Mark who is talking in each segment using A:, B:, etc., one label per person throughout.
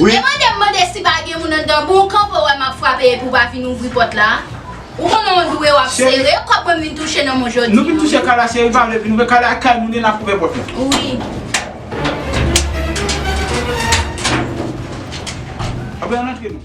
A: Wi. Epa de'm mande si
B: pa gen moun anndan pou'w kanpe ou wè map frape epi ou pa vin ouvri pòt la. Ou konnen on dwe wap sere kòb mwen vin touche nan men'w jodi an. Nou vin touche kay la cheri
C: pa vle vin ouvè kay la ak kay moun yo nap ouvè pòt la. Wi. Aprè antre nou.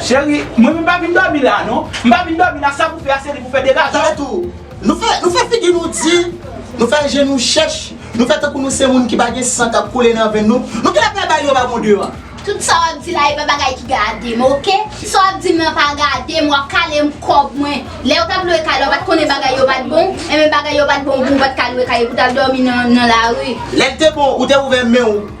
C: Cheri, mwen menm pa vin dòmi la non. M pa vin dòmi la, sa pou fè a se li pou fè degaje w. Tande tou, nou
A: fè, nou fè figi nou di, nou fè je nou chèch, nou fè tankou nou se moun ki pa gen san k ap koule nan venn nou. Nou gen apre bay yo babon deyò a. Tout sa w ap di la
B: e pa bagay ki gade m ok. Sa w ap di m lan pa gade m, w ap kale m kòb mwen. Lè yo t ap lwe kay la w pa t konnen bagay yo pa t bon, enben bagay yo pa t bon pou w pa t ka lwe kay e pou w t al dòmi nan lari. Lè l te bon, ou te
A: ouvè men w.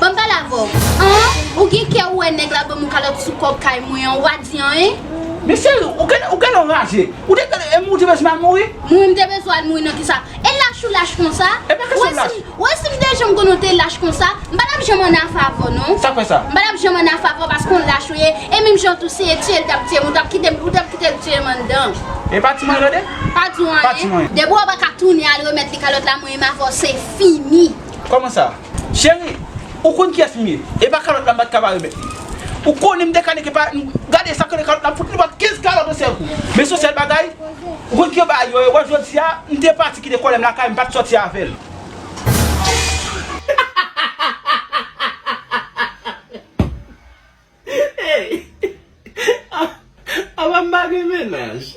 B: Banm pale avè w An ou gen kè ou wè nèg la banm yon kalòt sou kòb kay mwen an ou pa di anyen? Mesye
C: ou gen lè w raje Ou te gen lè ou te bezwen al mouri? Mouri m te bezwen al
B: mouri nan kisa? E lach ou lach konsa? E pa kesyon lach Ou wè si m te janm konnen w te lach konsa m pa tap janm an afe avè w non Sa k fè sa? M pa tap janm
C: an afe avè w
B: paske w lach ou ye e menm jan tou si e tye l tap tye m ou tap kite l tye m anndan E pa ti mwen rèd e?
C: Pa di w anyen.
B: Depi w pa ka tounen al remèt li kalòt la mwen e m avè w se fini. Kòman sa?
C: Cheri, ou konn kiyès m ye. E pa kalòt la m pa t ka pa remèt li. Ou konnen m dekale ke pa m gade sa k rele kalòt la m fout li bòt 15 kalòt on sèl kou. Men son sèl bagay, ou konn kijan yo bagay yo ye wè jodi a m te pati kite kòlè m lakay m pa t sòti avè l. Hey! Apa m pa gen menaj?